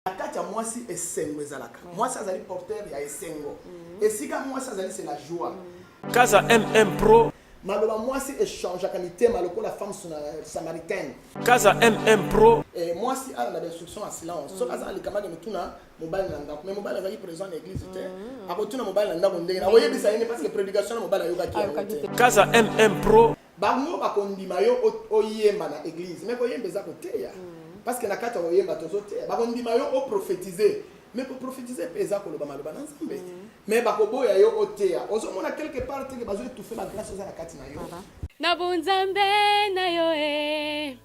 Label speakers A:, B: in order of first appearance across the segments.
A: na kati ya mwasi esengo ezalaka mm. mwasi azali porteur ya esengo mm. esika mwasi azali se la joie mm. kaza
B: mm pro maloba mwasi
A: echangeaka mitema lokola femme euh, samaritaine kaza mm
B: pro eh, mwasi ala na
A: bainstruction ya silence soki aza na likamaki mituna mobali na ndako mais mobali azalaki présent na église te akotuna mobali na ndako ndenge nakoyebisa yene parce que prédication na mobali ayokaki yango te kaza mm
B: pro Bango bakondima
A: yo oyemba na eglise mais koyemba eza koteya mm. parce que na kati ya koyemba tozoteya bakondima yo oprofetize mais koprofetize mpe eza koloba maloba na nzambe mm. mais bakoboya yo oteya ozomona quelque part teke bazo etufe bagrâce eza na kati na yo na bonzambe
C: na yo e eh.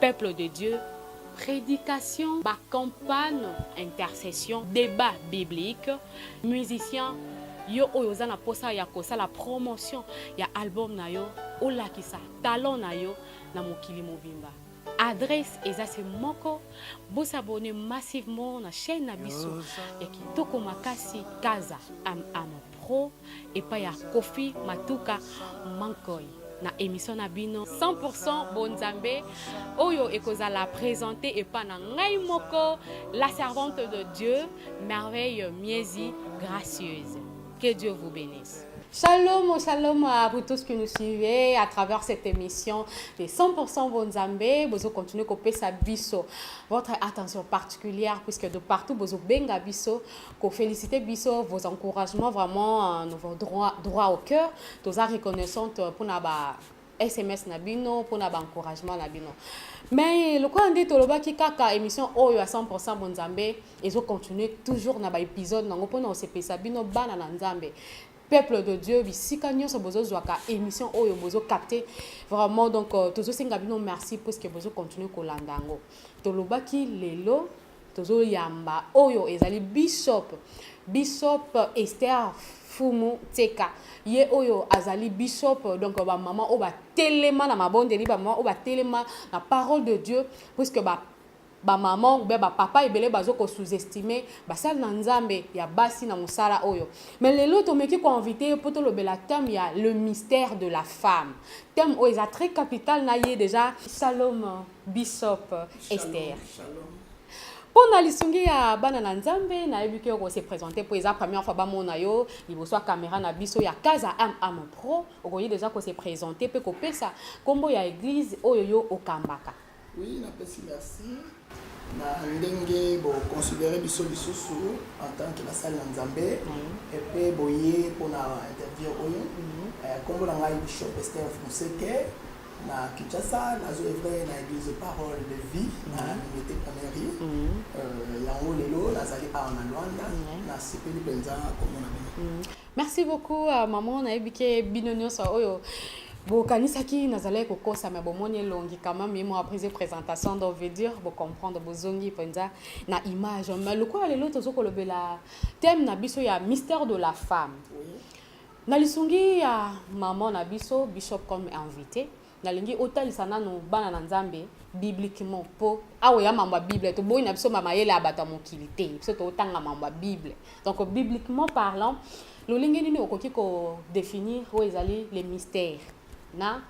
C: Peuple de Dieu, prédication, ba campagne, intercession, débat biblique, musicien yo oyo oza na posa ya kosala promotion ya album na yo olakisa talent na yo na mokili mobimba adresse eza se moko bosabone massivement na chaîne na biso ya kitoko makasi kaza am amo pro epai ya Koffi Matuka Mankoy na emission na bino 100% bonzambe oyo ekozala presente epa na ngai moko la servante de Dieu merveille miezi gracieuse que Dieu vous bénisse Shalom, oh, shalom à vous tous qui nous suivez à travers cette émission des 100% Bonzambe. Bozo continuez à biso votre attention particulière puisque de partout bozo benga biso ko feliciter biso vos encouragements vraiment euh, nous vont droit, droit au cœur toza reconnaissante euh, pona ba sms na bino pona ba encouragement na bino mais lokola nde tolobaki kaka émission oyo ya 100 bonzambe ezo continuer toujours na ba épisode nango pona osepesa bino bana na nzambe peuple de dieu bisika nyonso bozozwaka émission oyo bozokapte vraiment donc euh, tozosenga bino merci puiske bozocontinue kolanda yango tolobaki lelo Tozo yamba oyo ezali Bishop Bishop Esther Fumu Tseka ye oyo azali Bishop donc ba maman oyo ba telema na mabondeli ba maman oyo ba telema na parole de Dieu puisque ba ba maman ou bien ba papa ebele bazo ko sous-estimer basali na Nzambe ya basi na musala oyo mais lelo tomeki ko inviter po tolobela thème ya le mystère de la femme thème oyo eza très capital na ye déjà Salomon Bishop Esther. Shalom.
A: mpo na
C: lisungi ya bana na nzambe nayebi ke okose présente mpo eza première fois bamona yo liboso ya kamera na biso ya kaza mm pro okoki deja kose présente mpe kopesa nkombo ya église oyo yo okambaka oui napesi
A: merci na ndenge boconsidere biso lisusu en tant que basali na nzambe mhm. epe boye mpona interview oyo mhm. eh, nkombo na ngai bishop ester fonseke na Kinshasa nazo evre na église parole de vie na unité première rue yango lelo nazali awa na Luanda nasepeli mpenza komona bino mm. merci beaucoup
C: euh, maman nayebi ke bino nyonso oyo bokanisaki nazalaki kokosa me bomoni elongi quand même ye mwa prise présentation donc veut dire bocomprendre bozongi mpenza na image mais lokola lelo tozo kolobela thème na biso ya mystère de la femme oui. Na lisungi ya maman na biso bishop comme invité nalingi otalisa nanu bana na nzambe bibliquement mpo awa ya mambo ya bible toboyi na biso mayele ya bato ya mokili te biso totanga mambo ya bible donc bibliquement parlant lolenge nini okoki kodefinir oyo ezali le mystère na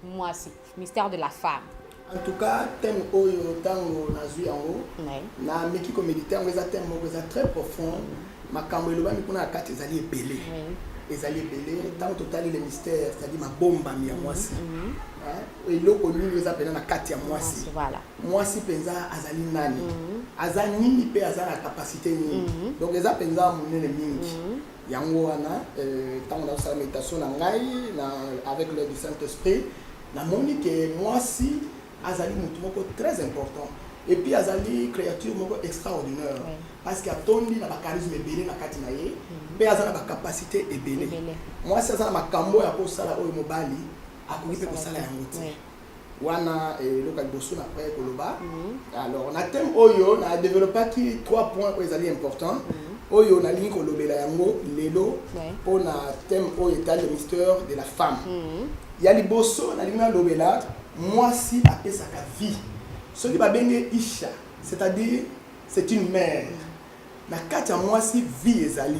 C: mwasi mystère de la femme en tout cas
A: thème oyo ntango nazwi yango nameki komedite yango eza thème moko eza très profond makambo elobami kuna na kati ezali ebele ezali ebele ntango totali le mystère cetadi mabombami ya mwasi mhm, mhm. eloko nini eza mpenza na kati ya mwasi mwasi mpenza azali nani mhm. aza nini mpe aza na kapasite nini donc eza mpenza monene mingi yango wana ntango euh, nazosala meditation na ngai na avec l'aide du saint esprit namoni ke mwasi azali motu moko très important et puis azali créature moko extraordinaire oui. parce que atondi na bacharisme ebele na kati na ye mpe mhm. aza na bacapacité ebele mwasi aza na makambo ya kosala oyo mobali akoki mpe kosala yango te wana eh, eloko ya liboso na preye koloba mm-hmm. alors na thème oyo na développaki trois points oyo ezali important mm-hmm. oyo nalingi kolobela yango lelo mpo na thème oyo etali le mystère de la femme mm-hmm. ya liboso nalingi nalobela mwasi apesaka vie soki babenge isha c'est-à-dire c'est une mère Na kati ya mwasi vie ezali.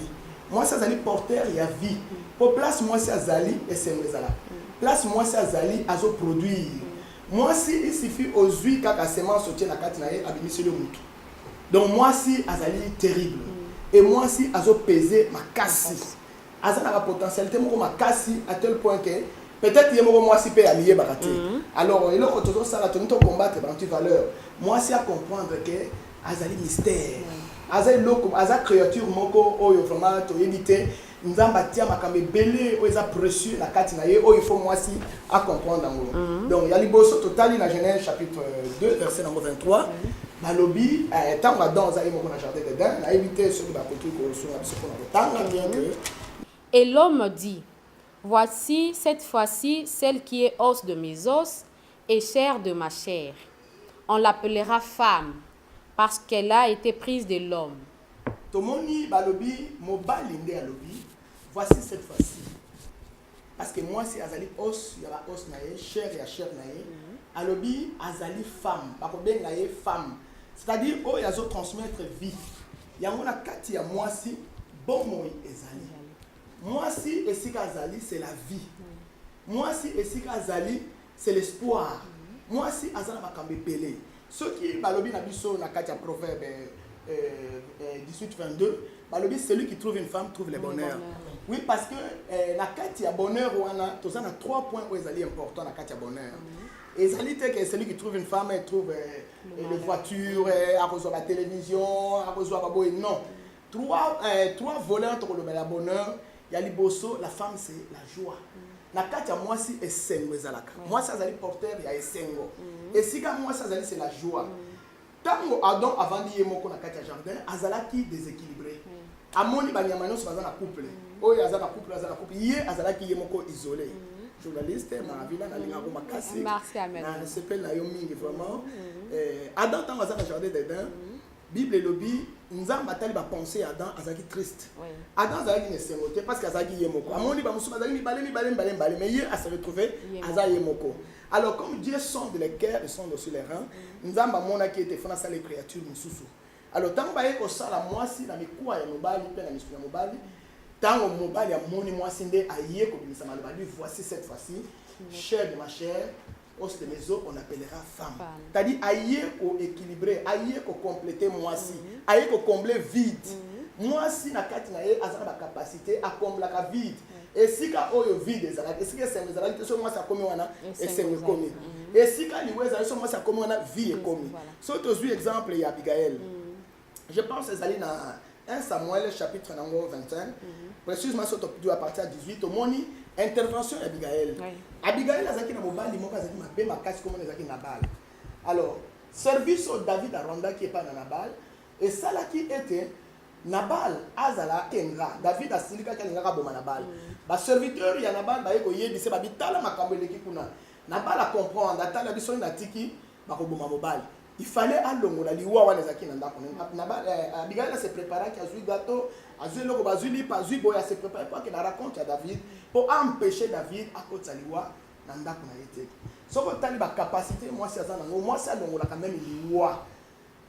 A: Mwasi azali porteur ya vie. Po place mwasi azali esengo ezala. Place mwasi azali azo produire. Mwasi il suffit ozui kaka semence otie na kati na ye abimiseli yo mutu. Donc mwasi azali terrible. Et mwasi azo peser makasi. Aza na ba potentialite moko makasi à tel point que peut etre ye moko mwasi pe amiyebaka te. Alors eloko tozo sala tolingi to combattre ba anti valeur. Mwasi a comprendre que Azali mystère. Aza eloko, aza creature moko oyo vraiment toyebi te. Nzambe atia makambo ebele oyo eza precieux na kati na ye oyo il faut mwasi a comprendre yango. Donc ya liboso totali na Genèse chapitre 2 verset nango 23 balobi eh, ntango Adam aza ye moko na jardin d'Eden, nayebi te soki bakoki kosunga biso mpo na kotanga bien que Et l'homme
C: dit, Voici cette fois-ci celle qui est os de mes os et chair de ma chair on l'appellera femme parce qu'elle a ete prise de l'homme. Tomoni
A: balobi mobali nde alobi voici cette fois ci parce que mwasi azali os ya ba os na ye chair ya chair na ye alobi azali femme bakobenga ye femme c'est à dire oyo azo transmettre vie yango na kati ya mwasi bomoi ezali Mwasi esika azali c'est la vie. Mwasi esika azali c'est l'espoir. Mwasi aza na makambo ebele. Soki balobi na biso na kati ya proverbe euh, euh, 18-22, balobi celui qui trouve une femme trouve le bonheur. Oui, parce que euh, na kati ya bonheur wana toza na trois points oyo ezali important na kati ya bonheur. ezali te ke celui qui trouve une femme trouve euh, les voitures euh, akozwa ba télévision akozwa baboye non Trois, eh, trois voleurs tokolobela bonheur ya liboso la femme c'est la joie na kati ya mwasi esengo ezalaka mm. mwasi azali porteur ya esengo mm. esika mwasi azali c'est la joie ntango mm. adam avandi ye moko na kati ya jardin azalaki déséquilibré amoni banyama nyonso baza na couple oyo aza na couple aza na couple ye azalaki ye moko isolé journaliste maravina nalingako makasi nasepeli na yo mingi vraiment eh, adam ntango aza na jardin d'eden Bible elobi nzambe atali bapense ya adam azalaki triste adam azalaki na esengo te parce que azalaki ye moko amoni bamosusu bazalaki mibale mibale mibale mibale mais ye ase retrouve aza ye moko alors comme dieu sonde le cœur et sonde aussi les reins nzambe amonaki ete fona asala créature mosusu alors ntango baye kosala mwasi na mikuwa ya mobali mpe na misuni ya mobali ntango mobali amoni mwasi nde aye kobimisa maloba lui voici cette fois-ci chair de ma chair Os de maison on appellera femme. C'est-à-dire aye ko équilibrer, aye ko compléter mwasi, mm -hmm. aye ko combler vide. Mm -hmm. Mwasi na kati na ye azana ba capacité a combler ka vide. Mm -hmm. Esika oyo vide ezalaki, esika esengo ezalaki, so mwasi akomi wana esengo ekomi. Mm -hmm. Esika liwe ezalaki, so mwasi akomi wana vie ekomi. Voilà. So tozwi exemple ya Abigail. Mm -hmm. je pense ezali na 1 samuel chapitre na yango 25 précisement so todu à partir ya 18 tomoni intervention ya abigail abigail azalaki na mobali moko azalaki mabe makasi komona ezalaki nabal alors service oyo david arondaki epai na nabal esalaki ete nabal azala engra david asilikaki alingaka aboma nabal mm. baserviteur ya nabal baye koyebisa babitala makambo eleki kuna nabal acomprendre atala biso oyo natiki mm. bakoboma mobali il fallait alongola liwa wana ezalaki na ndako eh, abigai na se préparaki azwi gato azwi eloko bazwi lipa azwi boye ase prépare mpo akenda raconte ya david mpo aempêche david akotisa liwa na ndako na ye te soki otali bacapacité mwasi aza nango mwasi alongolaka meme liwa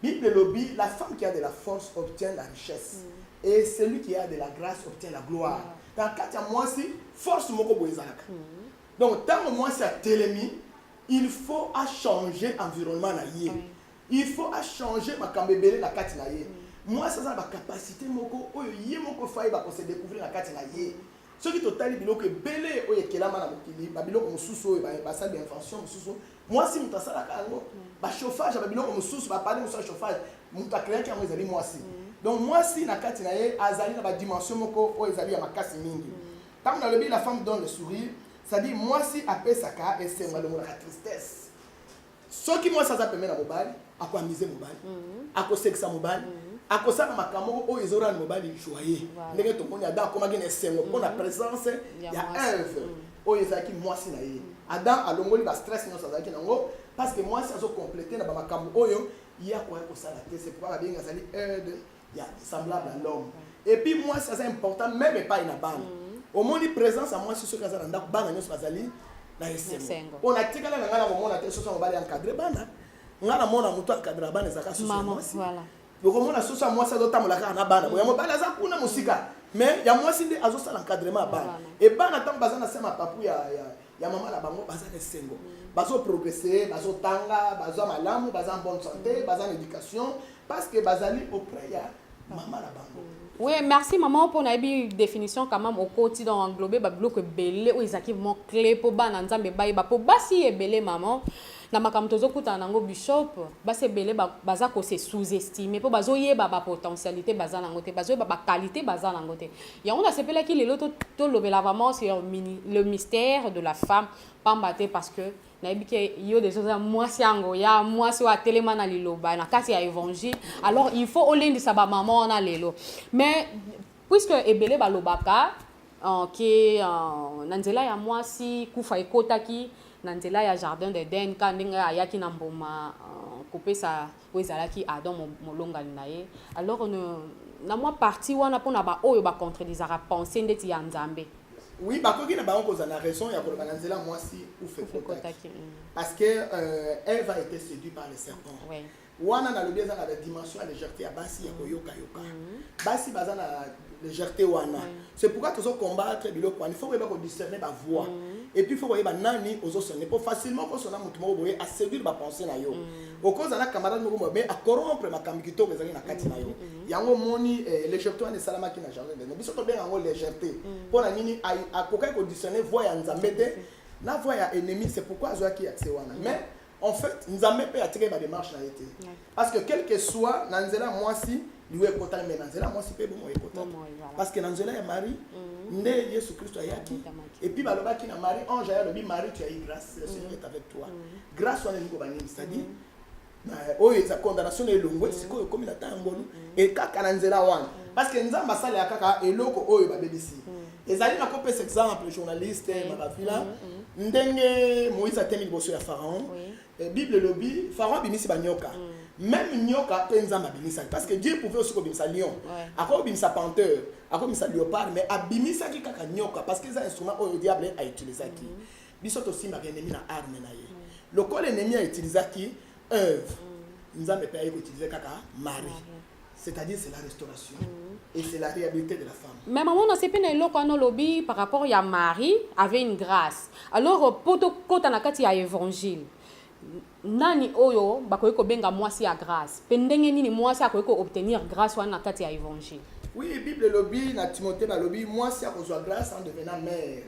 A: bible elobi la femme qui a de la force obtient la richesse mm. et celui qui a de la grâce obtient la gloire mm. na kati ya mwasi force moko boye ezalaka mm. donc ntango mwasi atelemi Il faut a changer environnement na ye. Oui. Il faut a changer makambo ebele na kati na ye. Oui. Mwasi aza na ba capacité moko oyo ye moko faye ba ko se découvrir na kati na ye. Oui. soki totali biloko ebele oyo ekelama na mokili babiloko mosusu oyo basali bainvention mosusu mwasi moto asalaka yango mm. bachauffage ya babiloko mosusu bapane mosusu ya chauffage moto akreaki yango ezali mwasi mm. donc mwasi na kati na ye azali na badimension moko oyo ezali ya makasi mingi mm. ntango nalobi la femme donne le sourire C'est à dire mwasi apesaka esengo alongolaka tristesse soki mwasi aza pembe na mobali ako amise mobali mhm. akosekisa mobali mhm. akosala makambo moko oyo ezorana mobali joye ndenge tomoni adam akomaki na esengo mpo na mhm. presence ya eve oyo ezalaki mwasi na ye adam alongoli bastress nyonso azalaki nango parce que mwasi azokomplete na bamakambo oyo ye akoya kosala te sepoi babengi azali aide ya semblable à l'homme et puis mwasi aza important meme epai na bana omoni présence ya mwasi soki aza na ndako bana nyonso bazali na esengo Esengo. mpo natikala na ngai na komona te soso ya mobali encadre bana ngai namona moto encadre bana ezalaka soso ya Maman, mwasi voilà. okomona
C: soso ya
A: mwasi azotambola kaka na bana boya mobali aza kuna mosika mais ya mwasi nde azosala encadrement ya bana Bana. e bana ntango baza na se ya mapapu ya, ya, ya mama na bango baza na esengo bazoprogrese bazotanga baza malamu baza en bonne santé baza na éducation parce que bazali auprès ya mama na bango Oui, merci maman
C: pour la définition quand même au côté dans englobé ba bloque belé ou ezaki vraiment clé pour ba na nzambe ba ba pour ba si belé maman na makambo tozokutana na yango bishop basi ebele baza kose sous-estime mpo bazoyeba bapotentialité baza na yango te bazoyeba baqualité baza na yango te Yango nasepelaki lelo to tolobela vraiment sur mini- le mystère de la femme pamba te parce que nayebi ke yo deja oza mwasi ya ngoya mwasi oyo atelema na liloba na kati ya évangile alors il faut olendisa bamama wana lelo mais puisque ebele balobaka uh, ke uh, na nzela ya mwasi kufa ekotaki na nzela ya jardin d'eden ka ndenge ayaki na mbuma uh, kopesa oyo ezalaki Adam molongani na ye alors na mwa parti wana mpo na baoyo bacontredisaka pensée ndeti ya Nzambe oui bakoki
A: na bango kozala na raison ya koloba na nzela mwasi ufekotaki mm. parce que euh, eve a été séduit par le serpent oui. wana nalobi eza na la dimension ya légèreté ya basi ya koyokayoka mm. basi baza na légèreté wana oui. C'est pourquoi tozo combattre biloko wana. Il faut koyeba ko discerner ba voix. Mm. Et puis il faut koyeba nani ozo sonner. Pour facilement ko sonna mutu moko boye a séduire ba pensée na yo. Mm. Okoza na camarade moko mais a corrompre makambo kitoko ezali na kati na yo. Mm. mm, mm. Yango moni eh, légèreté wana esalamaki na jardin de biso to benga yango légèreté. Mm. Pona nini akokaki ko discerner voix ya Nzambe te na voix ya ennemi c'est pourquoi azwaki accès wana. Mais mm. En fait, Nzambe pe atika ba démarche na ye te. Parce que quel que soit na nzela mwasi liwa ekotaki mais na nzela mwasi pe bomo ekotaki. Parce que na nzela ya Marie mm. nde Yesu Kristo ayaki et puis balobaki na Marie ange ya lobi Marie tu as eu grâce le Seigneur mm. est avec toi. Mm. Grâce wana niko banini c'est-à-dire oyo eza condamnation na elongwe sikoyo ekomi na ntango ngolu ekaka na nzela wana parce que Nzambe asalelaka kaka eloko oyo babebisi. ezali na kopesa exemple journaliste oui. makafila mm -hmm. ndenge moïse atemi liboso ya pharaon oui. Eh, bible elobi pharaon abimisi banyoka mm. même nyoka mpe nzambe abimisaki parce que dieu pouvait aussi kobimisa lion ouais. akoki kobimisa panteur akoki kobimisa léopard mais abimisaki kaka nyoka parce que eza instrument oyo diable autilisaki mm -hmm. biso tosimbaka enemi na arme na ye mm. lokola enemi autilisaki œuvre mm. nzambe mpe aye koutilize kaka mari mm. c'est-à-dire c'est la restauration et c'est la réhabilité de la femme mais maman nasepe na eloko
C: wana olobi par rapport ya marie avait une grâce alors mpo tokota na kati ya évangile nani oyo bakoki kobenga mwasi ya grâce mpe ndenge nini mwasi akoki koobtenir grâce wana na kati ya évangile oui bible elobi
A: na timote balobi mwasi akozwa grâce en devenant mare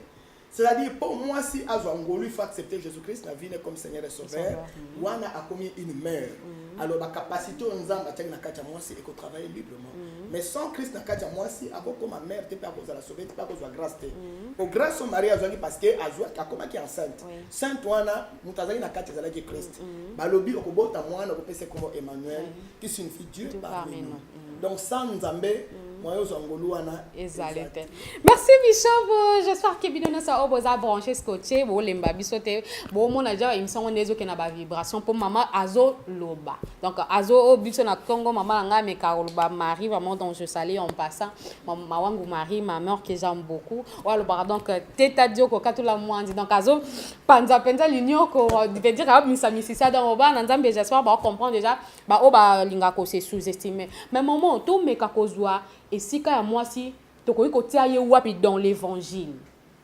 A: C'est à dire pour moi si azwa ngolu il faut accepter Jésus Christ na vie ne comme Seigneur et Sauveur wana akomi une mère mm-hmm. alors ba capacité oyo Nzambe atiaki na kati ya mwasi eko travailler librement mm-hmm. mais sans Christ na kati ya mwasi akokoma mère te mpe akozala sauver te mpe akozwa grâce te mm-hmm. po grâce oyo Marie azwaki parce que azwaki akomaki enceinte sainte wana moto azalaki na kati ezalaki Christ balobi okobota mwana okopesa kombo Emmanuel qui signifie Dieu parmi nous donc sans nzambe mm. moyen ozwa ngolu wana ezali
C: te merci bishop j'espère que bino nyonso oyo boza branche scotche bolemba biso te bomona ja émission ngo nde ezokenda bavibration mpo mama azoloba donc azo oyo oh, biso na ntongo mama na ngai ameka koloba marie vraiment donc je sali en passant mama wangu marie ma mère que j'aime beaucoup oyo alobaka donc teta dioko katula mwandi donc azopanza mpenza linioko veut dire ayobimisamisisa donc obana nzambe j'espère baocomprendre déjà ba oyo balingaka ko se sous estimer mais maman tomeka kozwa esika ya mwasi tokoki kotia ye wapi dans l'évangile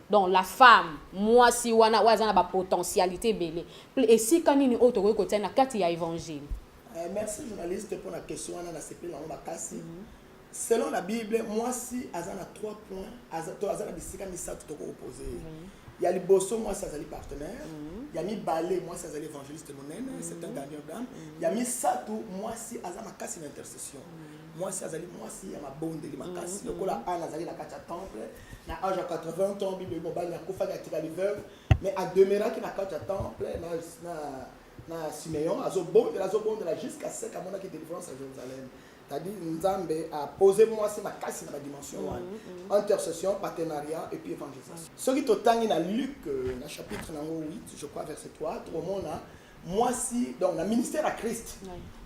C: donc la femme mwasi wana oyo aza na bapotentialité ebele esika nini oyo tokoki kotia na kati ya évangile eh, merci
A: journaliste mpo na question wana nasepeli yango makasi mm -hmm. Selon la bible mwasi aza na trois points aza, to aza na bisika misato toko opose ye mm. ya liboso mwasi azali partenaire mm. ya mibale mwasi azali évangéliste monene mm. c'est un gardien d'âme mm. ya misato mwasi aza makasi na intercession mm. mwasi azali mwasi ya mabondeli makasi mm. lokola ana azali na kati ya temple na age ya 80 temps bible mobali akufaki atikali veuve mais ademeraki na kati ya temple na, na na simeon azobondela azobondela jusqu'à sec amonaki délivrance ya jérusalem c'est-à-dire nzambe apose mwasi makasi na badimension wana mm, mm. intercession partenariat et puis évangélisation soki totangi na luc euh, na chapitre nango 8 je crois verset 3 tokomona mwasi donc na ministère ya christ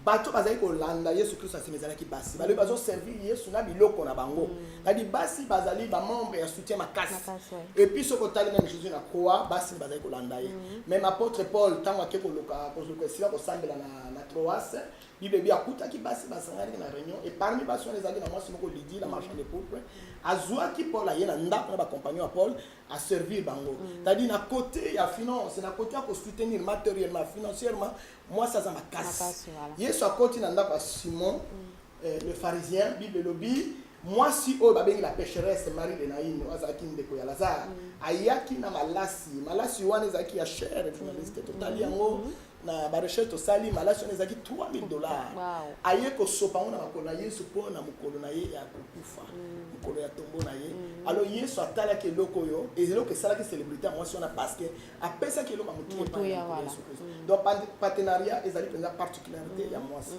A: bato bazali kolanda yesu kristo na nsima ezalaki basi balobi bazoservir yesu na biloko na bango mm. Kadi basi bazali ba membre ya soutien makasi. makasi ouais. Et puis soko tali même Jésus na croix basi bazali kolanda ye. Mm -hmm. Même apôtre Paul tango ake koloka koloka esika kosambela na na Troas, Bible bi akutaki basi basangani na réunion et parmi basi wana ezalaki na mwasi moko Lydie la marchande de pourpre. Azuaki Paul aye na ndako na ba compagnons ya Paul a servir bango. Mm -hmm. Tadi na côté ya finance, na côté ya ko soutenir matériellement, financièrement, mwasi aza makasi. makasi voilà. Yesu akoti na ndako ya Simon. Mm -hmm. Eh, le pharisien, Bible elobi mwasi oyo babengi la pécheresse marie de naine oyo azalaki ndeko ya lazare mm. ayaki na malasi malasi wana ezalaki ya chere mm. journaliste totali mm. yango na barecherche tosali malasi wana ezalaki 3000 dollars aye kosopa yango na makolo na yesu mpo na mokolo na ye ya kokufa mokolo ya tombo na ye alors yesu atalaki eloko oyo eloko esalaki célébrité ya mwasi wana parce que apesaki eloko ya motuepa yesu kristo donc partenariat ezali mpenza particularité ya mwasi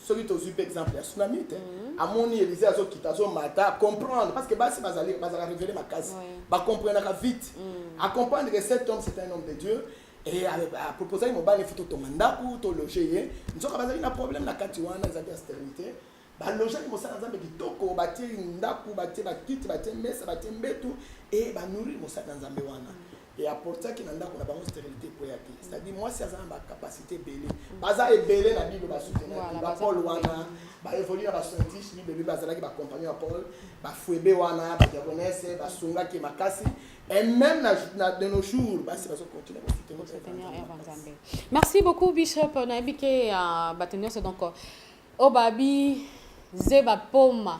A: soki tozwi mpe exemple ya sunamite mhm. amoni elize azokita azomata comprendre parce que basi bazali bazalaka révélé makasi bacomprenaka vite mhm. acomprendre que cet homme c'est un homme de dieu e aproposaki mobali fo totonga ndako tologe ye nzoka bazali na problème na kati wana ezalaki ya stérilité balojaki mosala nzambe kitoko batie ndako batie bakiti batie mesa batie mbetu e banourrir mosala na nzambe wana et apportaki na ndako na bango sterilite ekweya te c'est à dire mwasi aza na ba capacité ebele baza ebele na bible basutenaki ba paul wana ba évolue na ba scientiste bible bible bazalaki ba compagnon ya paul ba fuebe wana ba diagonese basungaki makasi et même na, na de nos jours basi bazo continuer kosoutenir
C: merci beaucoup bishop nayebi ke uh, bato nyonso donc obabi zeba poma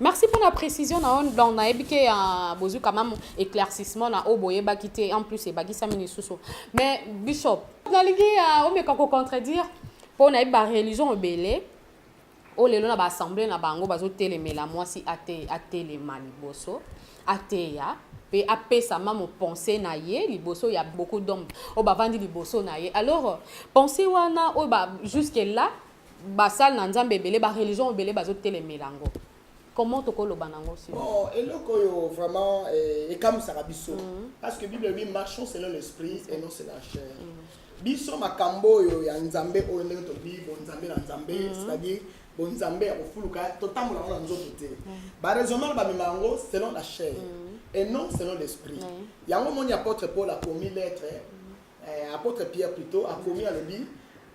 C: Merci pour la précision na on donc na yebi ke uh, bozui quand même éclaircissement na oyo boyebaki te en plus ebakisami lisusu mais bishop nalingi uh, omeka kocontredire mpo nayebi bareligion ebele oyo lelo na baassemble na bango bazotelemela mwasi ate, atelema liboso ateya mpe apesama mopense na ye liboso ya beaucoup d'homme oyo bavandi liboso na ye alors pense wana oyo ba jusque là basali na nzambe ebele bareligion ebele bazotelemela yango comment tokoloba nango si bon eloko oyo
A: vraiment eh, ekamwisaka biso mhm. parce que bible elobi marchons selon l'esprit et non selon la chair mhm. biso makambo oyo ya nzambe oyo ndenge tolobi bonzambe na nzambe mhm. c'est-à-dire bonzambe ya kofuluka totambola yango na nzoto te baraisonnement bamema yango selon la chair et non selon l'esprit yango omoni apôtre paul akomi lettre Eh, apôtre Pierre plutôt akomi alobi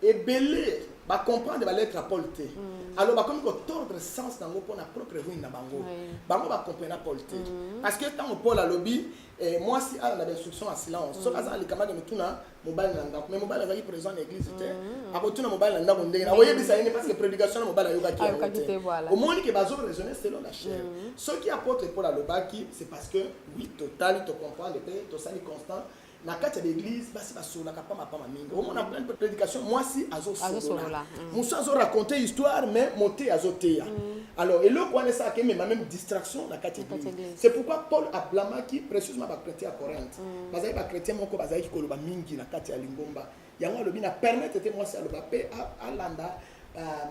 A: ebele ba comprendre ba lettre ya Paul te. Mm. Alors bakomi ko tordre sens nango pona propre ruine na bango. Oui. Bango ba comprendre Paul te. Mm. Parce que tango Paul alobi eh, mwasi ala na ba instruction ya silence. Mm. Soki azala likamaki motuna mobali na ndako. Mais mobali azalaki présent na église te. Mm. Akotuna mobali na ndako ndenge na oyebisa ye parce que prédication na mobali ayokaki yango Ayokaki te. te, voilà. Omoni ke bazo raisonner selon la chair. Soki apôtre Paul alobaki c'est parce que oui totali to comprendre pe tosali constant na kati ya baeglise basi basololaka pama pama mingi omona pleine de prédication mwasi azosolola mm. mosusu azoraconte histoire mais mote azoteya mm. alors eloko wana esalaka emema meme distraction na kati ya eglise c'est pourquoi paul ablamaki précieusement bachrétien ya corinthe mm. bazalaki bachrétien moko bazalaki koloba mingi na kati ya lingomba yango alobi na permettre te mwasi aloba mpe alanda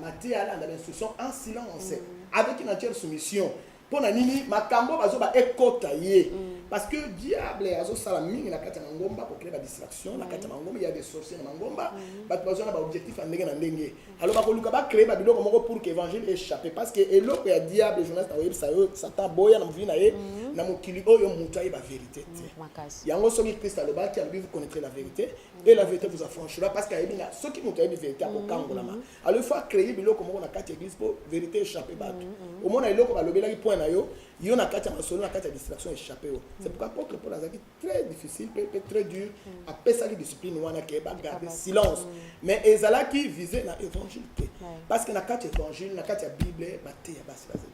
A: mateya alanda bainstruction en silence avec une entière soumission pona nini makambo bazoba ekota ye mm. parce que diable azosala mingi na kati ya mangomba ko créer ba distraction na kati ya mm. mangomba il y a des sorciers na mangomba mm. bato bazwa na ba objectif ya ndenge na ndenge alors bakoluka ba créer ba biloko moko pour que évangile échappe parce que eloko ya diable journaliste akoyebisa yo satan boya na movi na ye na mokili oyo moto ayeba vérité te yango soki christ alobaki alobi vous connaîtrez la vérité et la vérité vous affranchira parce que ayebi na soki moto ayebi vérité akokangolama alors il faut acréer biloko moko na kati ya église mpo vérité échappe bato mm, mm, mm. omona eloko balobelaki point na yo yo na kati ya masolo na kati ya distraction échappe yo c'est pourquoi apôtre paul azalaki très difficile mpe mpe très dur apesaki discipline wana ke bagarde silence mais ezalaki vise na évangile te parce que na kati ya évangile na kati ya bible bateya basi baza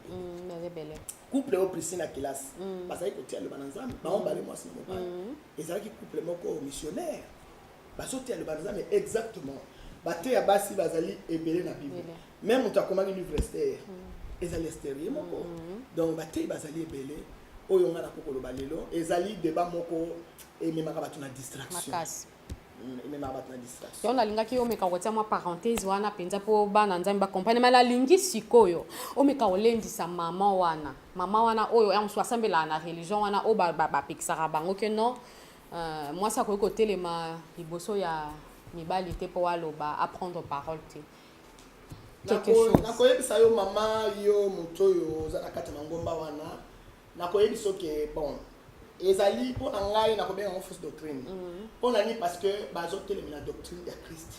A: ebele couple oyo prisi na kelasi bazalaki kotia loba na nzambe bango bale mwasi na mobali ezalaki couple moko missionnaire Bazoteya liloba na Nzambe exactement. Bateya basi bazali ebele na Bible. Ebele. Meme moto akomaki livre Esther ezali Esther ye moko. Donc bateyi bazali ebele. Oyo ngai nakoki koloba lelo ezali debat moko ememaka bato na distraction. Makasi. Mm, Ememaka bato na distraction. yango nalingaki omeka kotia
C: mwa parenthèse wana mpenza mpo bana nzambe bakomprene ma nalingi sikoyo omeka kolendisa mama wana mama wana oyo ya mosusu asambelaka na religion wana oyo ba- ba- bapekisaka bango ke non Uh, mwasi akoki kotelema liboso ya mibali te mpo aloba aprendre parole te
A: nakoyebisa yo mama yo moto oyo oza na kati ya mangomba wana nakoyebisa oke bon ezali mpo na ngai nakobenga yango fausse doctrine mhm. mpo na nini parce que bazotelemela doctrine ya christ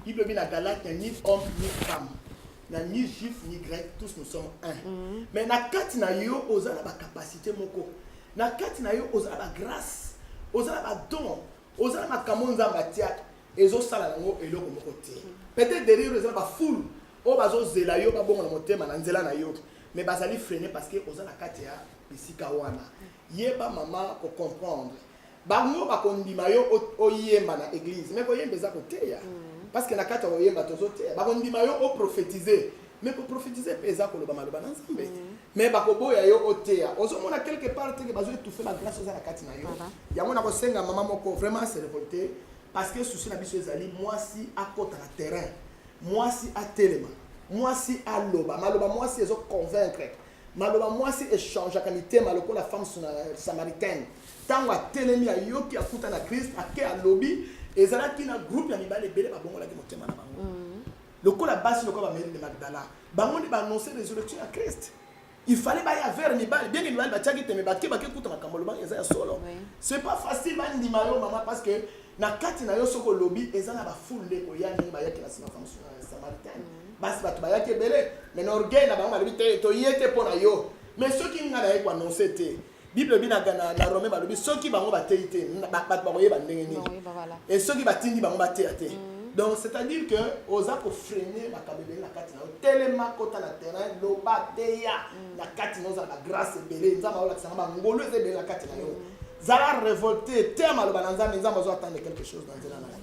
A: bible ebi na galate ya ni homme ni femme na ni juif ni grec tous nous sommes un mhm. mais na kati na yo oza na bacapacité moko Na kati na yo oza na ba grace, oza na ba don, oza na makambo Nzambe atiaka ezosala nango eloko moko te. Peut-être derrière yo eza na ba foule oyo bazozela yo babongo na motema na nzela na yo mais bazali freine parce que oza na kati ya bisika wana. Yeba mama ko comprendre Bango bakondima yo oyemba na eglise mais koyemba eza koteya mm. parce que na kati ya koyemba tozoteya bakondima yo oprofetize mais koprofetize mpe eza koloba maloba na nzambe mm. mais bakoboya yo oteya ozomona quelque part teke bazo étouffe la grâce oza na kati na yo yango na kosenga mama moko vraiment se révolter parce que souci na biso ezali mwasi akota na terrain mwasi atelema mwasi aloba maloba mwasi ezo convaincre maloba mwasi echangeaka mitema lokola femme samaritaine Tango atelemi, ayoki, akuta na Christ, ake, alobi, ezalaki na groupe ya mibali ebele babongolaki motema na bango. Lokola basi, lokola ba Mary de Magdala, bango nde ba annoncer resurrection ya Christ. Il fallait baya vers mibali, bien que mibali batiaki tembe, bake bake kuta makambo alobaki eza ya solo. C'est pas facile bandima yo mama parce que na kati na yo soki olobi eza na ba foule nde ekoya ndenge bayaki na sima femme samaritaine. Basi bato bayaki ebele, mais na orgueil na bango balobi te toye te mpo na yo. Mais soki ngai naye ko annoncer te, bible elobi na, na, na rome balobi soki bango bateyi te bato bakoyeba ndenge nini e soki batindi bango bateya te mm. donc c'est à dire que oza kofrene makambo ebele na kati na yo telema kota na terrain loba teya mm. na kati na ozala bagrace ebele nzambe aolakisanga bangolu eza ebele na kati na yo mm. zala révolté te maloba na nzambe nzambe azo attendre quelque chose na nzela na yo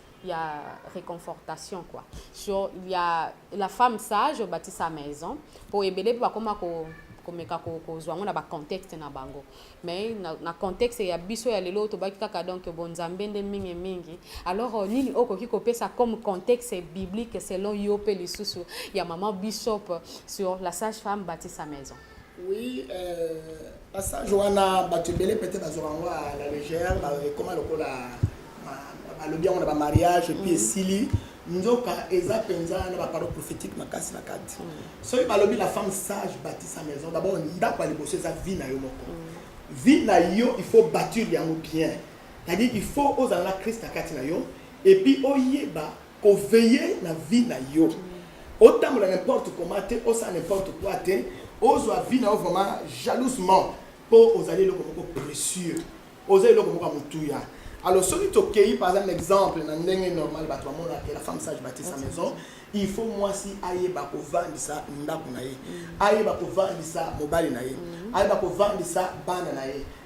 C: Il y a réconfortation quoi. Sur il y a la femme sage bâtit sa maison pour ebele ba koma ko komeka kozwa yango na bacontexte na bango mais na, na contexte ya biso ya lelo tobaki kaka donc bonzambe nde mingi mingi alors euh, nini okoki kopesa comme contexte biblique selon yo mpe lisusu ya mama bishop sur la sage femme bâtit sa maison Oui, euh,
A: passage wana bato ebele pete bazwaka yango à la légère ekoma lokola balobi yango na bamariage epuis esili mm -hmm. nzoka eza mpenza na baparole prophétique makasi na kati soki balobi la femme sage bâti sa maison d'abord ndako ya liboso eza vie na yo moko vie na yo il faut bâtir yango bien c'est-à-dire il faut ozala na christ na kati na yo epuis oyeba Ko veiller na vie na yo. Otambola n'importe comment te, osala n'importe quoi te, ozwa vie na yo vraiment jalousement mpo ozali eloko moko précieux, oza eloko moko ya motuya. Alors soki tokei par exemple na exemple na ndenge normal bato bamonaka la femme sage bâtit sa maison, il faut mwasi ayeba kovandisa ndako na ye, ayeba kovandisa mobali na ye, ayeba kovandisa bana na ye.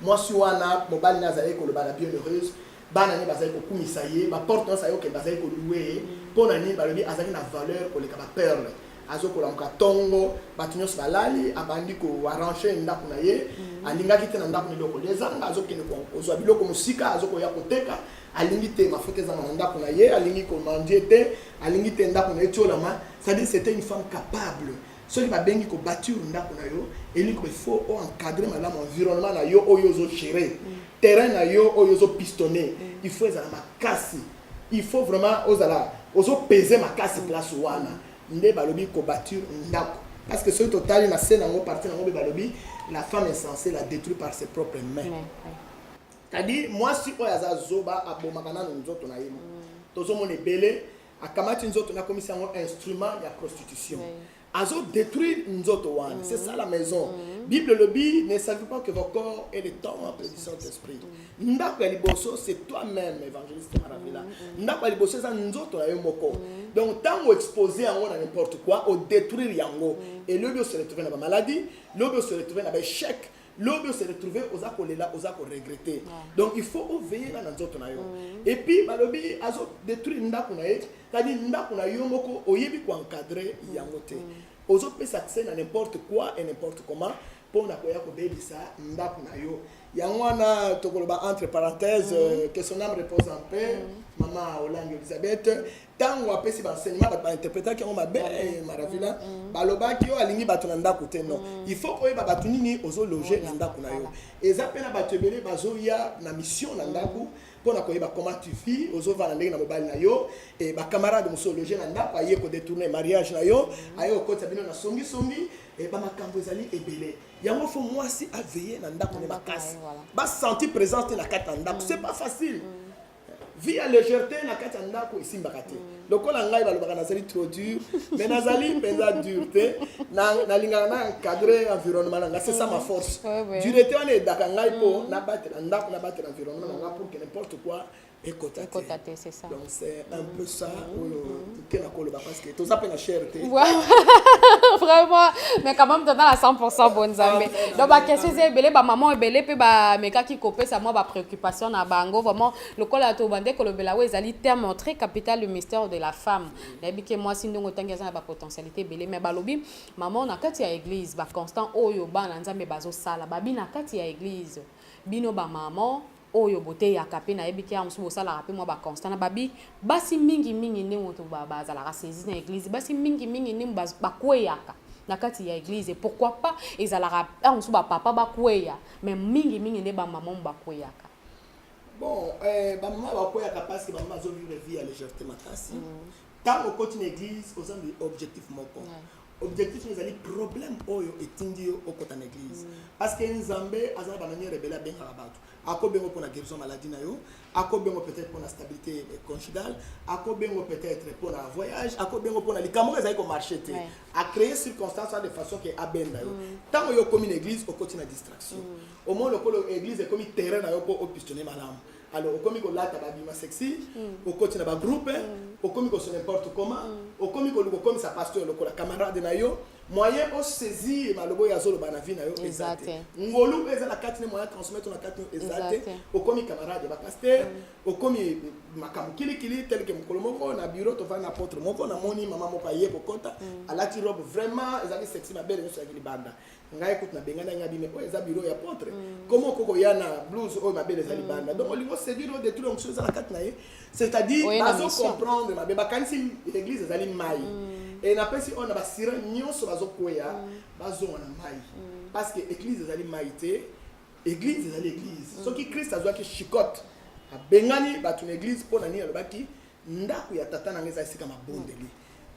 A: Mwasi wana, mobali naye azalaki koloba na bienheureuse, bana naye bazalaki kokumisa ye, ba porte nionso ayokeli bazalaki ko louer ye, pona nini? Balobi azalaki na valeur koleka ba perles. Azo kolamuka tongo, batu nionso balali, abandi ko arranger ndaku na ye, alingaki te na ndaku na ye biloko kolia ezanga, azo kende kozua biloko mosika, azo koya koteka, alingi te mafuta ezanga na ndaku na ye, alingi ko manger te, alingi te ndaku na ye etiolama, c'est à dire c'etait une femme capable, Soki ba bengi ko bature ndako na yo elingi il faut o encadrer malamu environnement na yo oyo ozo gérer mm. terrain na yo oyo ozo pistonner mm. il faut ezala makasi il faut vraiment ozala ozo peser makasi mm. place wana nde balobi ko bature ndako parce que soki totali na se nango parti nango mpe balobi la femme insensée la détruit par ses propres mains mm. c'est-à-dire mwasi oyo aza zoba abomaka nano nzoto na ye mm. tozomona ebele akamati nzoto na komisa yango instrument ya prostitution azo détruire nzoto wana mm. c'est ça la maison mm. bible lobi ne savez pas que vos corps est le temps en du saint esprit mm. ndako ya liboso c'est toi même évangéliste maravila mm. ndako ya liboso eza nzoto na yo moko mm. donc ntango expose yango na n'importe quoi odétruire yango mm. et lobi ose retrouve na bamaladi lobi ose retrouve na baéchec lobi ose retrouver oza kolela oza ko regretter donc il faut o veiller na nzoto na yo mm. et puis balobi azo détruire ndako na ye kadi ndako na yo moko oyebi ko encadrer mm. yango te mm. ozo pesa accès na n'importe quoi et n'importe comment mpo na koya kobebisa ndako na yo yango wana tokoloba entre parenthèse mm. que son âme repose en paix mm. mama olange elisabeth ntango apesi baenseignement bato bainterpretaki yango mabe eh, maravila mm, mm. balobaki yo alingi bato na ndako te non mm. il faut koyeba bato nini ozologe na ndako na yo eza mpe na bato ebele bazoya na mission na ndako mpo na koyeba comment tu vis ozovanda ndenge na mobali na yo e bacamarade mosusu ologe na ndako aye kodetourne mariage na yo aye kokotisa bino na songisongi e bamakambo ezali ebele yango fo mwasi aveye na ndako ne makasi basentir présence te na kati ya ndako c'est pas facile vie ya légèreté na kati ya ndako esimbaka te lokola ngai balobaka nazali trop dur mais nazali mpenza dur te nalingaka na encadre environnement na ngai c'est ça ma force durete wana edaka ngai mpo mm. nabatela ndako nabatela environnement na ngai pour que n'importe quoi ekota te donc
D: c'est un peu
A: ça oyo kela koloba
D: parce que toza pe na chair te vraiment mais quand même toza na 100% bon nzambe ah, donc ba question eza ebele ba maman ebele pe ba mekaki kopesa mwa ba préoccupation na bango vraiment lokola to bande kolobela we ezali terme très capital le mystère de la femme nayebi ke mwasi ndongo tangi aza na ba potentialité ebele mais balobi maman na kati ya église ba constant oyo bana nzambe bazosala babi na kati ya église bino ba maman oyo boteyaka mpe nayebi te awa mosusu bosalaka mpe mwa baconstat na babi basi mingi mingi nde moto bazalaka saisi na eglize basi mingi mingi nde bakweyaka na kati ya eglize pourquoi pas ezalaka awa mosusu bapapa bakweya mais mingi mingi nde bamama bakweyaka bon
A: eh, bamama bakweyaka parce que bamama azovivre vie ya légèreté makasi mm. Tango okoti na eglise oza na objectif moko. Objectif na ezali problème oyo etindi yo okota na eglise. Mm. Parce que Nzambe aza na ba manière ebele abengaka bato. Akobengo pona guérison maladie na yo, akobengo peut-être pona stabilité conjugale, akobengo peut-être pona voyage, akobengo pona likambo ezali ko marcher te. A créer circonstance de façon que abenda yo. Mm. Tango yo komi na eglise okoti na distraction. Mm. Au moins lokolo eglise ekomi terrain na yo po opistonner malamu. alors okomi kolata babima sexy mm. okoti na bagroupe mm. okomi koso n'importe comment mm. okomi koluka okomisa pasteur lokola camarade na yo moyen osaisir maloba oyo azoloba na vie na yo eza te ngolu oyo eza na kati ne moyen transmettre na kati eza te okomi camarade ya bapasteur okomi makambo kilikili teleke mokolo moko na bureau tovandi na potre moko namoni mama moko aye kokɔta alati robe vraiment ezalaki sexy mabele nyonso yaki libanda ngai kutu nabengana ngai bime oyo eza biro ya potre mm. komo oko koya na blouse oyo mabele eza libanda mm. donc olingi oseduire oyo detruire mosusu eza na kati na ye c'est-à-dire bazo comprendre mabe bakanisi l'église ezali mai mm. e napesi oyo na basira nyonso bazokweya bazonga na mai parce que église ezali mai te église ezali église soki christ azwaki chicote abengani bato na église mpo na nini alobaki Ndako ya tata na ngai eza esika mabondeli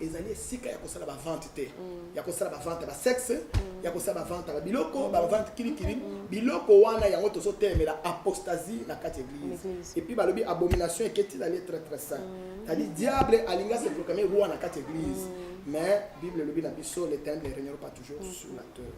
A: ezali esika ya kosala bavente te mm. ya kosala bavente ya basexe mm. ya kosala bavente ya babiloko mm. bavente kilikili biloko wana yango tozotelemela apostasie na kati ya eglise epuis balobi abomination eketi ezali très très saint tadi diable alingi aseproclame roi na kati ya eglise mais bible elobi na biso les ténèbres ne régnera pas toujours sur la terre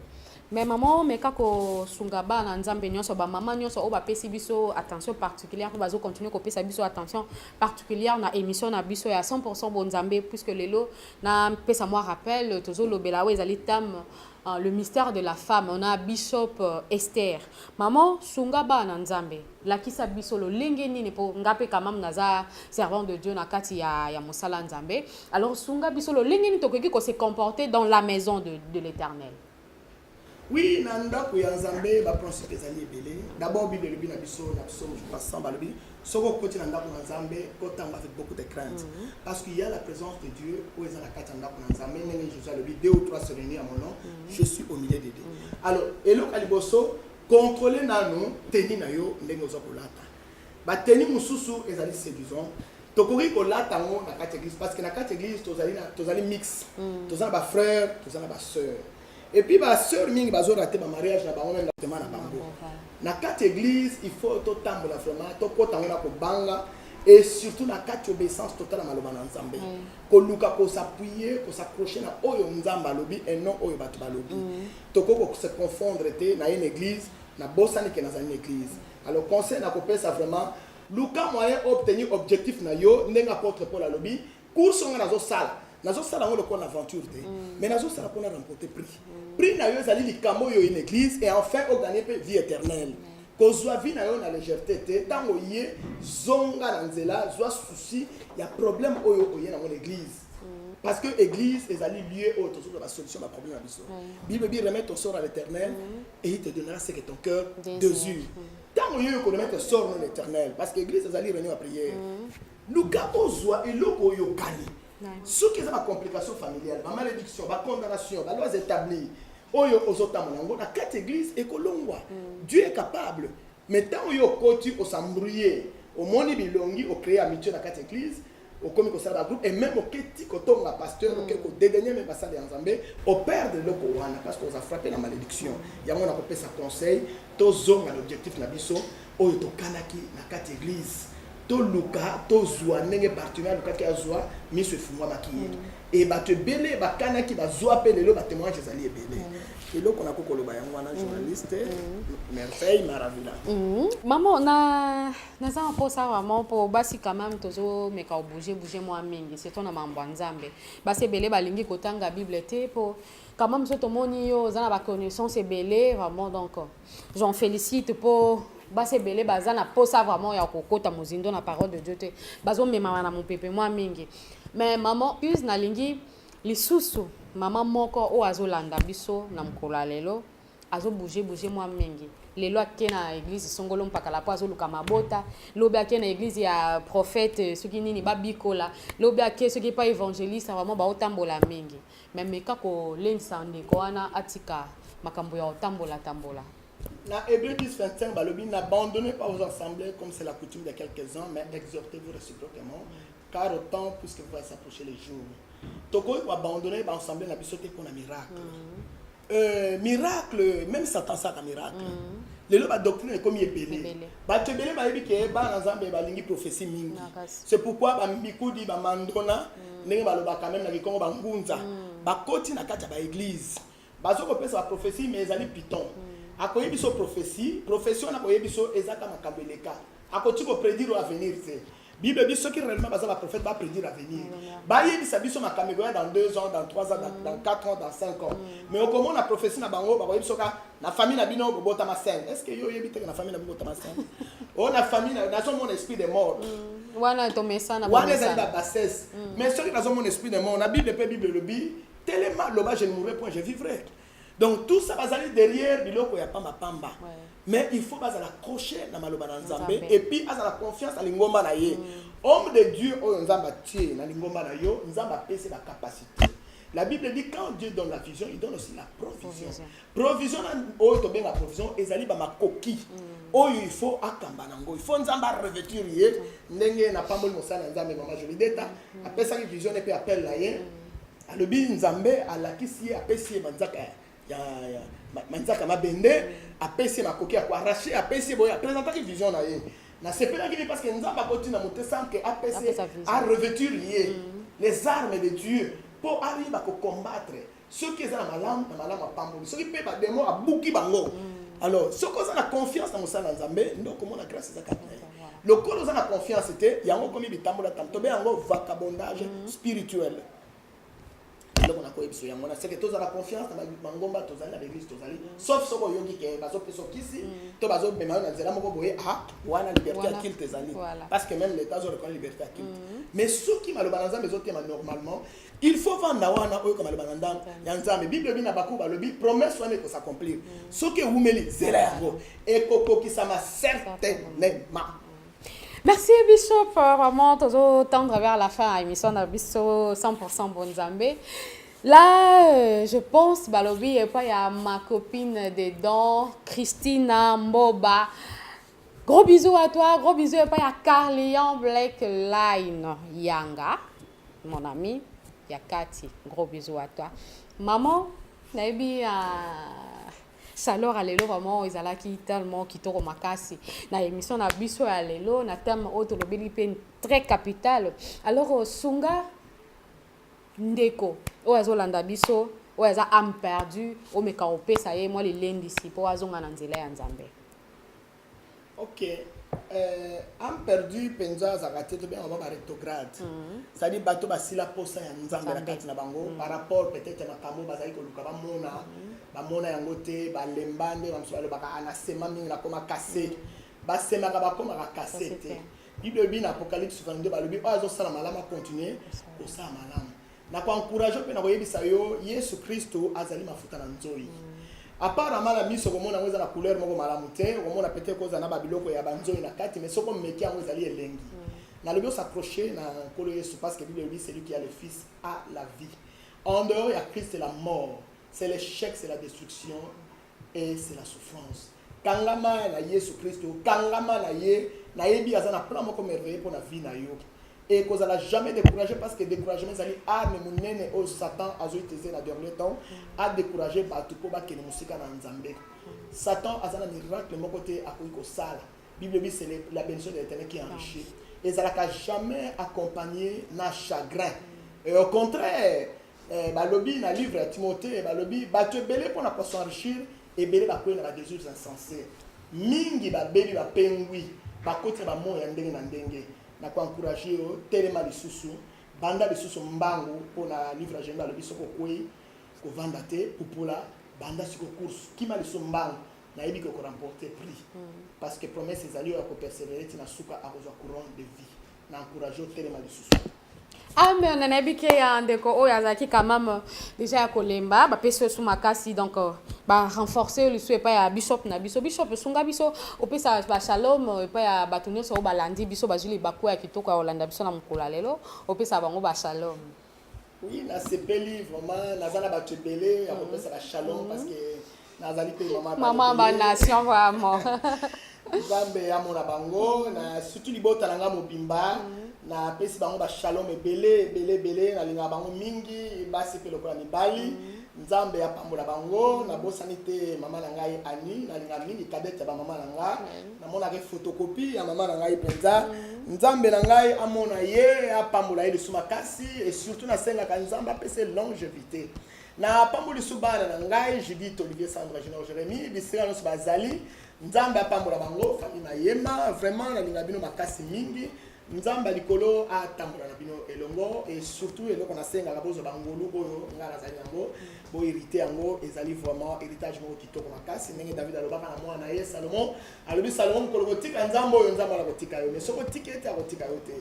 A: Mais maman omeka
D: ko sunga bana nzambe nionso ba maman nionso oba pesi biso attention particulière ba zo continuer ko pesa biso attention particulière na émission na biso ya 100% bon nzambe puisque lelo na pesa moi rappel tozo lobela wa ezali tam euh, le mystère de la femme on a bishop euh, Esther maman sunga bana nzambe lakisa biso lolenge nini mpo nga mpe kamam naza servant de dieu na kati ya, ya mosala nzambe alors sunga biso lolenge nini tokoki ko se comporter dans la maison de, de l'éternel Oui,
A: na ndako ya Nzambe ba principe ezali ebele. D'abord Bible elobi na biso na psaume je crois 100 balobi soki okoti na ndako na Nzambe otanga avec beaucoup de crainte mm -hmm. parce qu'il y a la présence de Dieu oyo eza na kati ya ndako na Nzambe ndenge Jésus alobi deux ou trois se réunir à mon nom mm -hmm. je suis au milieu de deux. Mm -hmm. Alors eloko ya liboso contrôler nanu teni na yo ndenge oza kolata. Ba tenues mosusu ezali seduisant, tokoki kolata yango na kati ya eglise parce que na kati ya eglise tozali na tozali mix mm. toza na ba frères toza na ba sœurs et puis ba sœurs mingi bazo rater ba mariage na bango même na bango na kati ya eglise il faut totambola vraiment tokota yango na kobanga et surtout na kati obéissance totala maloba na nzambe mm. koluka kosapuye kosaccroche na oyo nzambe alobi et non oyo bato balobi mm. tokoki kose confondre te na une église nabosani ke nazali na église Alors conseil na kopesa vraiment luka moyen obtenir objectif na yo ndenge apôtre Paul alobi course oyo nga nazosala nazosala yango lokola na aventure te mm. mais nazosala mpona remporter prix mm. prix na yo ezali likambo oyo une église et enfin oganye mpe vie éternelle mm. kozwa vie na yo na légèreté te ntango oye zonga na nzela zwa souci ya problème oyo oye nango na église parce que église ezali lieu oyo tozoloba basolution baproblème na biso bible bi remettre ton sort à l'éternel et il te donnera ce que ton cœur désire ntango yo okonomete sort non éternel parce que église ezali réunion ya prière mm. luka ozwa eloko oyo okani soki eza bacomplication familiale bamalédiction bacondamnation balois établi oyo ozotambola yango na kati église ekolongwa mm. dieu est capable Mais tango yo okoti o s'embrouiller, omoni bilongi o creer amitie na kati ya eglise, okomi kosala ba groupe et meme oke ti kotonga pasteur, oke ko dedaigner meme basali ya Nzambe, o perdre eloko wana parce que oza frapper na malediction. Yango nako pesa conseil, tozonga na objectif na biso oyo tokanaki na kati ya eglise, toluka tozwa ndenge bartime alukaki azwa miso efungwamaki ye e bato ebele bakanaki bazwa mpe lelo batemoignage ezali ebele eloko nakoki koloba yango wana journaliste merveille maravila mamo na
D: naza na mposa vraiment mpo basi quand même tozomeka obouge bouge mwa mingi surtout na mambo ya nzambe basi ebele balingi kotanga bible te mpo quand même so tomoni yo oza na baconnaissance ebele vraiment donc J'en félicite po basi ebele baza na posa vraiment ya kokota mozindo na parole de dieu te bazomemama na mopepe mwa mingi mais maman use nalingi lisusu mama moko oyo azolanda biso na mokolo ya lelo azobouge bouge mwa mingi lelo ake na eglize songolo mpakala mpo azoluka mabota lobi ake na eglize ya prophète soki nini babikola lobi ake soki epai évangéliste vraiment baotambola mingi Mais meka ko lendisa ndeko wana atika makambo ya otambola tambola. Na Hébreu 10,
A: 25, balobi, n'abandonnez pas vos assemblées comme c'est la coutume de quelques-uns, mais exhortez-vous réciproquement, car au temps, puisque vous voyez s'approcher les jours. Tokoki ko abandonner ba assemblées na biso te pona miracle. Mm -hmm. Euh, miracle même satan asaka miracle mm. lelo badoctrine ekomi ebele bato ebele bayebi ke bana nzambe balingi prophetie mingi c'est pourquoi bamikudi bamandona mm. ndenge balobaka meme na kikongo bangunza mm. bakoti na kati ya baeglise bazo kopesa baprophetie mais ezali piton mm. akoye biso prophetie prophetie wana akoye biso ezaka makambo eleka akoki kopredire avenir te Bible dit ceux qui réellement basent la prophète va prédire l'avenir. Ba yebisa biso makambo ekoya dans 2 ans, dans 3 ans, dans, dans 4 ans, dans 5 ans. Mm. Mais okomona prophétie na bango ba yebisa ka na famille na bino bobota ma sainte. Est-ce que yo yebi te na famille na bobota ma sainte? Oh na famille na nazo mon esprit de mort. Mm. Wana to
D: mesana ba. Wana ezali ba bassesse.
A: Mm. Mais soki nazo mon esprit de mort na Bible pe Bible lobi telema loba je ne mourrai point, je vivrai. Donc tout ça bazali derrière biloko ya pamba pamba. Ouais. mais il faut bazala accroche na maloba na nzambe epuis azala confiance na lingomba na ye mm. homme de dieu oyo nzambe atie na lingomba na yo nzambe apesi bacapacité la bible dit quand dieu donne la vision il donne aussi la provision provision oyo tobenga provision ezali bamakoki mm. oyo il faut akamba nango il faut nzambe arevêtir ye ndenge napamboli mosala ya nzambe mama jolideta mm. apesaki vision ne mpe appel na ye alobi nzambe alakisi ye apesi ye manzaka ya, ya, ya manzaka mabende apesi ye makoki ya koarrache apesi ye boye apresentaki vision na ye nasepelaki te parce que nzambe akoti na mote sans que apesi arevêtir ye mm. les armes de dieu mpo ayeba kocombattre soki eza na malamu na malamu apamboli soki mpe bademo abuki bango mm. alors soki oza na confiance na mosala ya nzambe nde okomona grâce eza kati na ye lokola oza na confiance te yango okomi bitambola tam tobe yango vacabondage mm. spirituel eloko nakoyebiso yango na seke tozala confiance na mangomba tozali na baeglise tozali mm. sauf soki oyoki ke bazopesa okisi mm. to bazomema yo na nzela moko boye a ah, wana liberté ya kilte ezali parce que même leta azorekola liberté ya kilte mais soki maloba na nzambe ezotema normalement Il faut vanda wana oyoka maloba na ndambo ya Nzambe. Bible elobi na Habakuku alobi promesse wana eko s'accomplir. Soki ewumeli zela yango ekokokisama certainement.
D: Merci Bishop, vraiment tozo tendre vers la fin ya émission na biso 100% bon Nzambe. Là, euh, je pense balobi et pas il y a ma copine des dents, Christina Mboba. Gros bisous à toi, gros bisous et pas il y a Carlian Black Line Yanga. mon ami ya kati gros bisous à toi maman nayebi uh, salor ya lelo vraiment ezalaki tellement kitoko makasi na émission na biso ya lelo na thème oyo tolobeli mpe très capital alors euh, sunga ndeko oyo azolanda biso oyo aza ame perdu omeka kopesa ye mwa lilendisi mpo azonga na nzela ya nzambe
A: Ok, euh, ame perdu penza azalaka te tobenga bango ba retrograde mm -hmm. cestadire bato basila mposa ya nzambe na kati na bango mm -hmm. par rapport peut-être ya makambo bazali koluka bamona mm -hmm. bamona yango te balemba nde bamosusu balobaka anasema mingi nakoma kase mm -hmm. basemaka bakomaka kase te bible elobi na apocalypse 22 balobi oyo azosala malamu akontinue kosala malamu Na ko encourager mpe na koyebisa yo Yesu Kristo azali mafuta na nzoi. Mm. Apparemment na miso komona yango eza na couleur moko malamu te, komona peut-être kozala na ba biloko ya banzoi na kati, mais soko meki yango ezali elengi. Mm. Nalobi os'accrocher na Nkolo Yesu parce que Bible elobi celui qui a le Fils a la vie. En dehors ya Christ la mort, c'est l'échec, c'est la destruction. et c'est la souffrance kangama na yesu kristo kangama na ye nayebi aza na plan moko merveille mpo na vie na yo et kozala jamais découragé parce que découragement ezali arme monene oyo satan azo utiliser na dernier temps a décourager bato mpo bakende mosika na nzambe satan aza na miracle moko te akoki kosala bible ebi c'est la bénédiction de l'éternel qui enrichit ezalaka jamais accompagné na chagrin et au contraire Eh, balobi na livre ya Timothee, balobi bato ebele mpo na ko s'enrichir, ebele bakwei na ba desires insensés. Mingi babebi, bapengwi, bakoti na bamoi ya ndenge na ndenge. Na ko encourager yo, telema lisusu, banda lisusu mbangu mpo na livre ya Jeremie alobi soki okwei, kovanda te, pupula, banda siko course, kima lisusu mbangu, nayebi que oko remporter prix. Parce que promesse ezali oyo ako perseverer ti na suka akozwa couronne de vie. na encourage otelema lisusu
D: amen ah, nayebi ke ya ndeko oyo azalaki quand même euh, déjà ya kolemba bapesi osu makasi donc euh, barenforce yo lisu epai ya bishop na biso bishop esunga biso opesa bashalom euh, epai ya bato nyonso oyo balandi biso bazwi libaku ya kitoko ya kolanda biso na mokolo ya lelo opesa bango bashalom Oui,
A: nasepeli vraiment naza na bato ebele ya kopesa ba shalom parce que nazali mpe mama Maman ba nation
D: vraiment. nzambe
A: amona bango na surtout libota na ngai mobimba napesi bango ba shalom ebele ebele ebele nalingaka bango mingi basi mpe lokola mibali Nzambe apambola bango nabosani te mama na ngai Annie nalinga mingi kadete ya bamama na nga namonaka efotokopi ya mama na ngai mpenza mm. Nzambe na ngai amona ye apambola ye lisu makasi e surtout nasengaka Nzambe apesa longevité na apamboli lisu bana na ngai Judith Olivier Sandra Junior Jérémie bisika nyonso bazali Nzambe apambola bango famille Mayema vraiment nalinga bino makasi mingi nzambe ya likolo atambola na bino elongo e surtout eloko nasengaka bozwa bangolu oyo ngai nazali yango boherite yango ezali vraiment héritage moko kitoko makasi ndenge david alobaka na mwana na ye salomon alobi salomon mokolo kotika nzambe oyo nzambe wana kotika yo mais soki otiki ete akotika yo te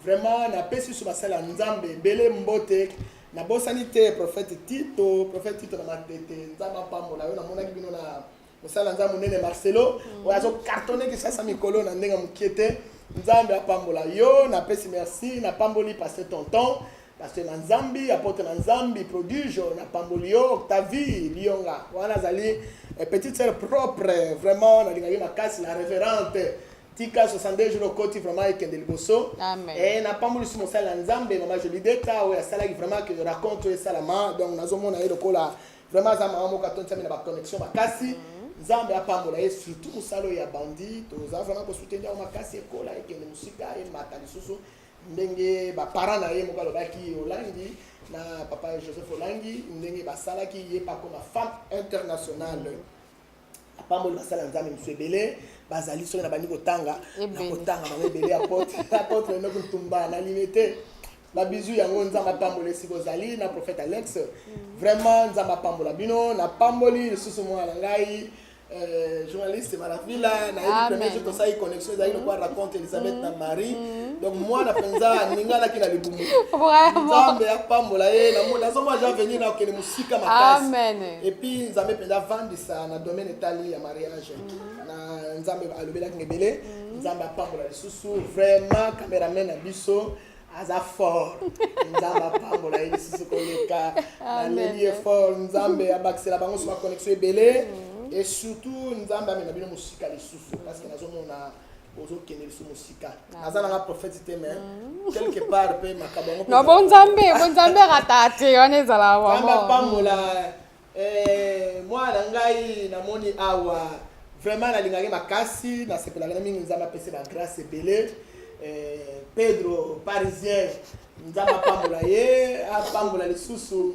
A: vraiment napesi so basala nzambe ebele mbote nabosani te prophète tito prophète tito na matete nzambe apambola yo namonaki bino na mosala nza monene marcelo mm. oyo azo cartonne kisasa mikolo na ndenge mokie te nzambe apambola yo napesi merci napamboli paste tonton paste na nzambi apotre na nzambi prodige napamboli yo octavie lionga wana azali eh, petite sœur propre vraiment nalingaki makasi la révérente tika 62 jours okoti vraiment ekende liboso e napambolisi mosali na nzambe mama jolideta oyo asalaki vraiment ke raconte oyo esalama donc nazomona ye lokola Vraiment aza maman moko atonda na ba connexion makasi. Nzambe apambola ye surtout mosala oyo ya bandi toza vraiment kosuteni yango makasi ekola ekende mosika emata lisusu ndenge baparent na ye moko alobaki olangi na papa joseph olangi ndenge basalaki ye pakoma femme internationale apamboli basali ya nzambe mosusu ebele bazali soki nabandi kotanga nakotanga bango ebele ya pote apotre enoki ntumba na lime te babizu yango nzambe apambola esika ozali na prophète alex mm. vraiment nzambe apambola bino napamboli lisusu mwana na ngai Euh, journaliste malavila nayebi premier jour tosali connexion ezali mm. lokola raconte elisabeth na mm. marie mm. donc mwana mpenza aninganaki na libumu nzambe apambola ye nazomona jean venir na okende mosika makasi et puis
D: nzambe mpenza
A: avandisa na domaine etali ya mariage mm. na nzambe alobelaki ngebele mm. nzambe apambola lisusu vraiment cameraman na biso aza fort nzambe apambola ye lisusu koleka naleli ye fort nzambe abakisela bango so baconnexion ebele mm. et surtout nzambe amema bino mosika lisusu parce que nazomona ozokende lisusu mosika ah. naza nanga prophète te mais mm. quelque part mpe makambo yango no
D: bonzambe bonzambe ratata te wana ezala
A: wamapambola
D: eh,
A: mwana ngai namoni awa vraiment nalingaki makasi nasepelaka na mingi nzambe apesi bagrace ebele eh, pedro parisien nzambe apambola ye apambola lisusu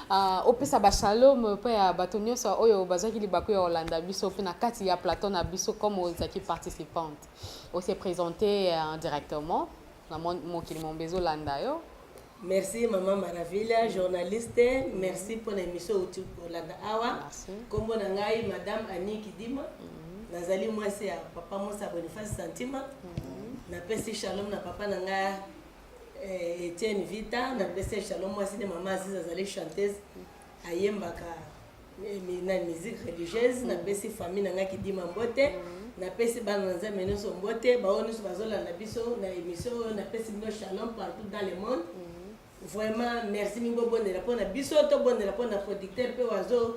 D: Uh, opesa bashalom mpe ya bato nyonso oyo bazwaki libaku ya kolanda biso mpe na kati ya plateau na biso comme ozalaki participante ose présente uh, directement na mokili mombe ezolanda yo merci mama
E: maravilla journaliste merci mpo na émission outi kolanda awa nkombo na ngai madame annie kidima mhm. nazali mwasi ya papa mosa boniface santima mhm. napesi shalom na papa na ngai Eh, Etienne Vita na pese Shalom mwasi de mama Aziza azali chanteuse ayembaka eh, mi- na musique religieuse na pesi famille na ngai kidima mbote na pesi bana na nzambe nyonso mbote baoyo nyonso bazolanda biso na émission oyo na pesi bino Shalom partout dans le monde vraiment merci mingi bobondela mpo na biso tobondela mpo na producteur mpe wazo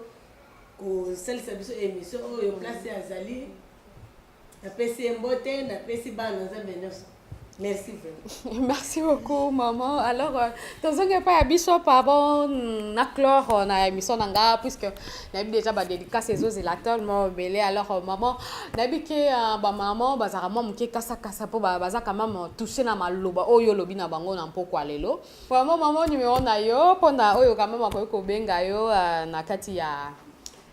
E: kosalisa biso émission oyo place azali Napesi ye mbote, napesi bana Nzambe nyonso. Merci vraiment. Merci beaucoup
D: maman. Alors euh, tozongi epai ya biso pardon na clore euh, na émission na nga puisque nayebi déjà badédicace ezozela tellement obele alors euh, maman nayebi ke bamaman bazalaka mwa moke kasakasa mpo baza quand même touche na maloba oyo olobi na bango na mpokwa lelo vraiment maman numero na yo mpo na oyo quand même akoki kobenga yo na kati ya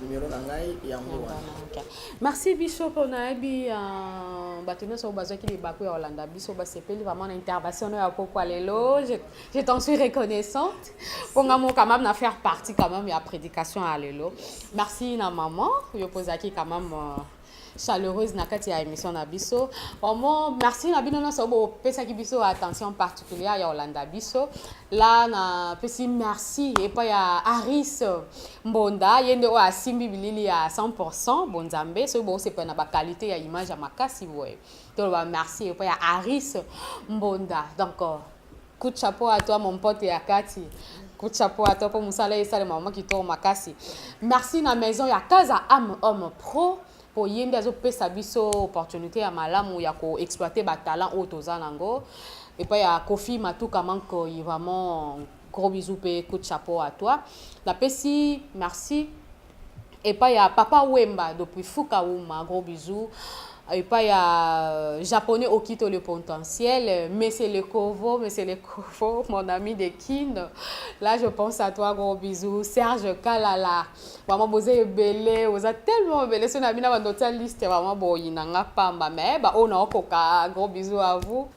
A: numero na ngai yango wana merci biso
D: mpo nayebi euh, bato nyonso oyo bazwaki libaku ya kolanda biso basepeli vraiment na intervention ya pokwa lelo je t'en suis reconnaissante mpo nga mo quand même na faire partie quand même ya prédication ya lelo merci na maman yo mpo ozalaki quand même euh, chaleureuse na kati ya émission na biso vraiment merci na bino nyonso bopesaki biso attention particulière ya kolanda biso la napesi merci epai ya aris mbonda ye nde oyo asimbi bilili ya 100 bonzambe soki bokosepela na bakalite ya image ya makasi boye toloba merci epai ya aris mbonda donc Coup de chapeau à toi mon pote ya kati. Coup de chapeau à toi pour musala esalema vraiment kitoko makasi. Merci na maison ya Kaza Am Homme Pro mpo ye nde azopesa biso opportunité ya malamu ya koexploite batalent oyo toza nango epai ya kofi matuka mankoi vraiment gros bisous mpe coup de chapeau à toi napesi merci epai ya papa wemba depuis fuka wuma gros bisous epai ya japonais okito le potentiel monsieur le kovo monsieur le kovo mon ami de kin là je pense à toi gros bisous serge kalala vraiment boza ebele boza tellement ebele so na bina bando tia liste vraiment boyina nga pamba mais baoyo naokoka gros bisous à vous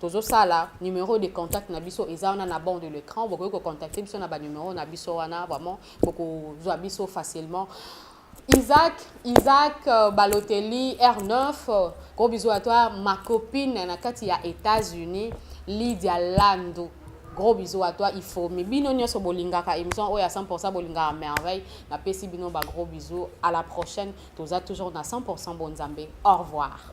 D: tozosala numero de contact na biso eza wana na bord de l'écran bokoki kocontacte biso na banumero na biso wana vraiment bokozwa biso facilement Isaac, Isaac euh, Balotelli, R9, euh, gros bisous à toi, ma copine Nakati ya États-Unis, Lydia Lando. Gros bisous à toi, il faut. Mais bino nyoso bolingaka émission oyo à 100% bolingaka merveille. Na pesi bino ba gros bisous. À la prochaine. Toza toujours na 100% bon Nzambe. Au revoir.